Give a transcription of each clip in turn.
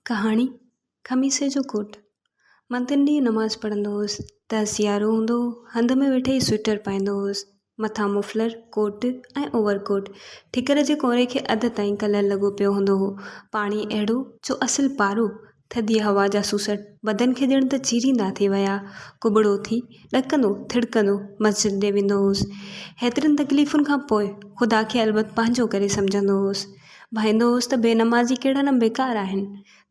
ڪهاڻي، خميسي جو گهوٽ مان تن ڏينهن نماز پڙهندو هوس ته سيارو هوندو هو، هنڌ ۾ ويٺي ئي سوئٽر پائيندو هوس، مٿان مفلر، ڪوٽ ۽ اوور ڪوٽ. ٺڪر جي ڪونري کي اڌ تائين ڪلر لڳو پيو هوندو هو. پاڻي اهڙو جو اصل پارو، ٿڌيء هوا جا سوسٽ بدن کي ڄڻ ته چيريندا ٿي ويا. ڪٻڙو ٿي، ڏڪندو ٿڙڪندو مسجد ڏي ويندو هوس. هيترين تڪليفن کان پوء خدا کي البت پنهنجو ڪري سمجهندو هوس. ڀائيندو هوس ته بي نمازي ڪهڙا نه بيڪار آهن.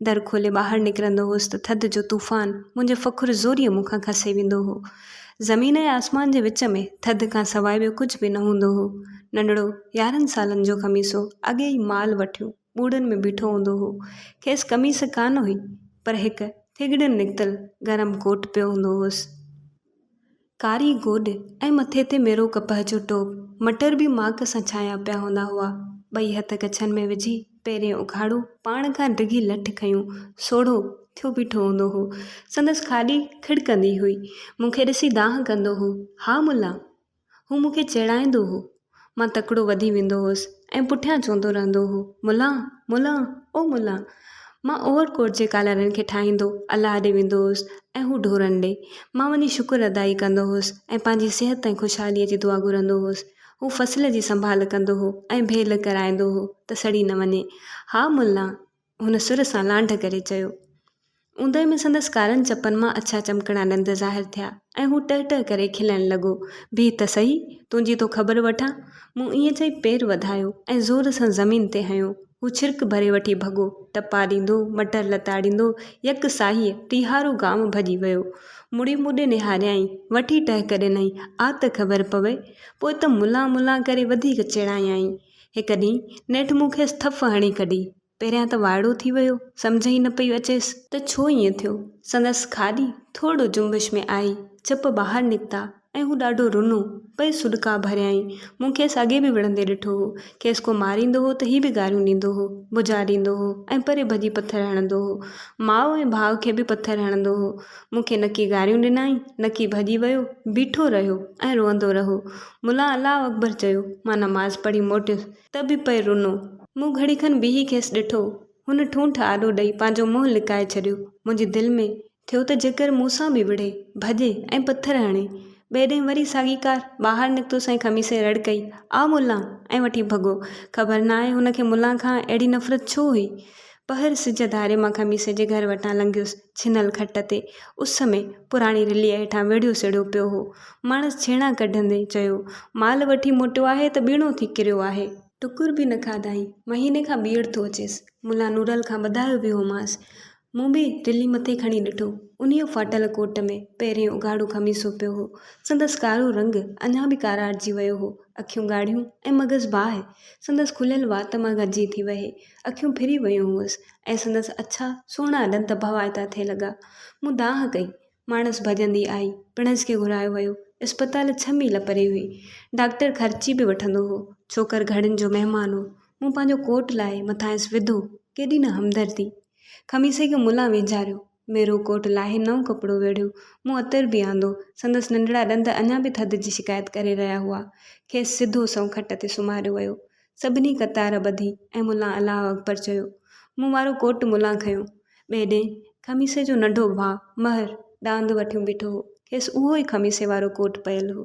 در کولي ٻاهر نڪرندو هوس ته ٿڌ جو طوفان منهنجي فخر زوريء مون کان کسي ويندو هو. زمين ۽ آسمان جي وچ ۾ ٿڌ کان سواء ٻيو ڪجهه به نه هوندو هو. ننڍڙو يارهن سالن جو خميسو اڳي ئي مال وٺيون ٻوڙن ۾ بيٺو هوندو هو. کيس قميص ڪانه هئي پر هڪ ٿيڳڙين نڪتل گرم ڪوٽ پيو هوندو هوس. ڪاري گوڏ ۽ مٿي تي ميرو ڪپهه جو ٽوپ، مٽر به ماڪ سان ڇانيا پيا هوندا هئا. ٻئي هٿ ڪڇن ۾ وجهي، پيرين اگهاڙو، پاڻ کان ڊگهي لٺ کنيون، سوڙهو ٿيو بيٺو هوندو هو. سندس کاڏي کڙڪندي هئي. مون کي ڏسي دانهن ڪندو هو، ها ملا! هو مون کي چيڙائيندو هو. مان تڪڙو وڌي ويندو هوس ۽ پٺيان چوندو رهندو هو، ملان! ملان! او ملان! مان اوور ڪوٽ جي ڪالرن کي ٺاهيندو الله ڏي ويندو هوس ۽ هو ڍورن ڏي. مان وڃي شڪر ادائي ڪندو هوس ۽ پنهنجي صحت ۽ خوشحاليء جي دعا گهرندو هوس. هو فصل جي سنڀال ڪندو هو ۽ ڀيل ڪرائيندو هو ته سڙي نه وڃي. ها ملان! هن سر سان لانڍ ڪري چيو. اوندهه ۾ سندس ڪارن چپن مان اڇا چمڪڻا ڏند ظاهر ٿيا ۽ هو ٽهه ٽهه ڪري کلڻ لڳو، بيهه ته سهي، تنهنجي ٿو خبر وٺان. مون ائين چئي پير وڌايو ۽ زور سان زمين تي هنيو. هو ڇرڪ ڀري وٺي ڀڳو، ٽپا ڏيندو، مٽر لتاڙيندو، يڪ ساهيء ٽيهارو گام ڀڄي ويو. مڙي مون ڏي نهاريائين، وٺي ٽهڪ ڏنائين، آ ته خبر پوي. پوء ته ملان ملان ڪري وڌيڪ چيڙايائين. هڪ ڏينهن نيٺ مون کيس ٿڦ هڻي ڪڍي. پهريان ته وائڙو ٿي ويو، سمجهه ئي نه پئي اچيس. ته ڇو ائين ٿيو؟ سندس کاڏي ٿورڙو جنبش ۾ آئي، چپ ٻاهر نڪتا ۽ هو ڏاڍو رنو. پئي سڏڪا ڀريائين. مون کيس اڳي به وڙهندي ڏٺو هو. کيس ڪو ماريندو هو ته هي به گاريون ڏيندو هو، بجا ڏيندو هو ۽ پري ڀڄي پٿر هڻندو هو. ماء ۽ ڀاء کي به پٿر هڻندو هو. مون کي نڪي گاريون ڏنائين، نڪي ڀڄي ويو، بيٺو رهيو ۽ روئندو رهو. ملان الله اڪبر چيو. مان نماز پڙهي موٽيس ته به پئي رنو. مون گهڙي کن بيهي کيس ڏٺو. هن ٺونٺ آڏو ڏئي پنهنجو منهن لڪائي ڇڏيو. منهنجي دل ۾ ٿيو ته جيڪر مون سان به وڙهي، ڀڄي ۽ پٿر هڻي. ٻئي ڏينهن وري ساڳي ڪار. ٻاهر نڪتس ۽ خميسي رڙ ڪئي، آء ملان! ۽ وٺي ڀڳو. خبر ناهي هن کي ملان کان اهڙي نفرت ڇو هئي. پهر سج ڌاري مان خميس جي گهر وٽان لنگهيس. ڇنل کٽ تي اس ۾ پراڻي رليء هيٺان ويڙهيو سڙيو پيو هو. ماڻس ڇيڻا ڪڍندي چيو، مال وٺي موٽيو آهي ته ٻيڻو ٿي ڪريو آهي. ٽڪر به نه کاڌائين. مهيني کان ٻيهر ٿو اچيس. ملا نورل کان ٻڌايو به هومانس. مون به رلي مٿي کڻي ڏٺو. انهيء ڦاٽل ڪوٽ ۾ پهريون اگهاڙو خميسو پيو هو. سندس ڪارو رنگ اڃا به ڪاراٽجي ويو هو. اکيون ڳاڙهيون ۽ مغز باهه. سندس کليل وات مان گهجي ٿي وهي. اکيون ڦري ويون هئس ۽ سندس اڇا سهڻا ڏند ڀوائتا ٿئي لڳا. مون دانهن ڪئي. ماڻس ڀڄندي آئي. پڻس کي گهرايو ويو. اسپتال ڇهه ميل پري هئي. ڊاڪٽر خرچي به وٺندو هو. ڇوڪر گهڙين جو مهمان هو. مون پنهنجو ڪوٽ لاهي مٿانئس وڌو. ڪيڏي نه همدردي. خميسي کي ملان ويجهاريو. ميرو ڪوٽ لاهي نئون ڪپڙو ويڙهيو. مون عطر به آندو. سندس ننڍڙا ڏند اڃا به ٿڌ جي شڪايت ڪري رهيا هئا. کيس سڌو سنئون کٽ تي سمهاريو ويو. سڀني قطار ٻڌي ۽ ملان الله اڪبر چيو. مون وارو ڪوٽ ملان کنيو. ٻئي ڏينهن خميسي جو ننڍو ڀاء مهر ڏاند وٺيون بيٺو هو. کيس اهو ئي خميسي وارو ڪوٽ پيل هو.